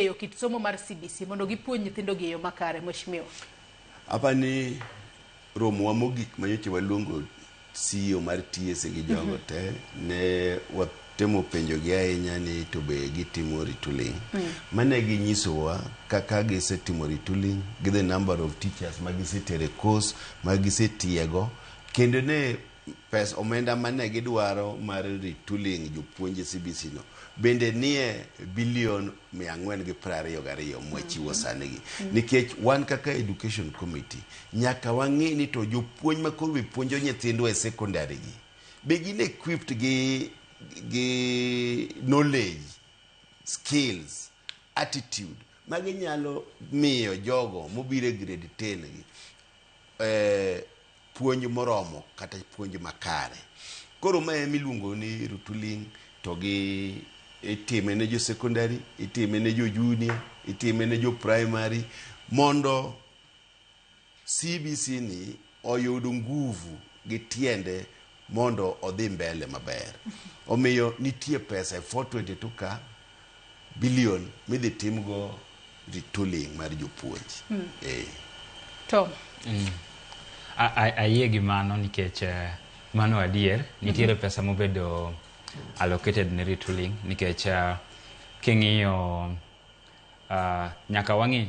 eyo kit somo mar CBC mondo gipuonj nyithindogi e yo makare, Mheshimiwa? Apa ni romowa mogik manyocha waluongo CEO mar TSA gi jogo mhm. te ne watemo penjogi ahinya ni to be gitimo retooling. Mm. Mane ginyisowa kaka gisetimo retooling gi the number of teachers ma gisetero e course ma gisetiego kendo ne Pes omenda mane gidwaro mar retooling jopuonj CBC no bende nie billion mia ang'wen gi piero ariyo gariyo mwachiwo sani gi. Nikech wan kaka education committee nyaka wang'i ni to jopuonj ma koro be puonjo nyithindwa e secondary gi be gin equipped gi gi knowledge, skills. attitude ma ginyalo miyo jogo mobiro e grade 10 gi eh, puonj moromo kata puonj makare koro ma ema iluongo ni rutuling to gi itime ne jo secondary itime ne jo junior itime ne jo primary mondo CBC ni oyud nguvu gi tiende mondo odhi mbele maber. Omiyo nitie pesa e 422 ka billion midhi timgo retooling mar jopuonj. Mm. Eh. Tom. Mm. Ayie gi mano nikech eh, mano adier nitiere mm-hmm. pesa mobedo allocated ne retooling nikech uh, king'iyo uh, nyaka wang'i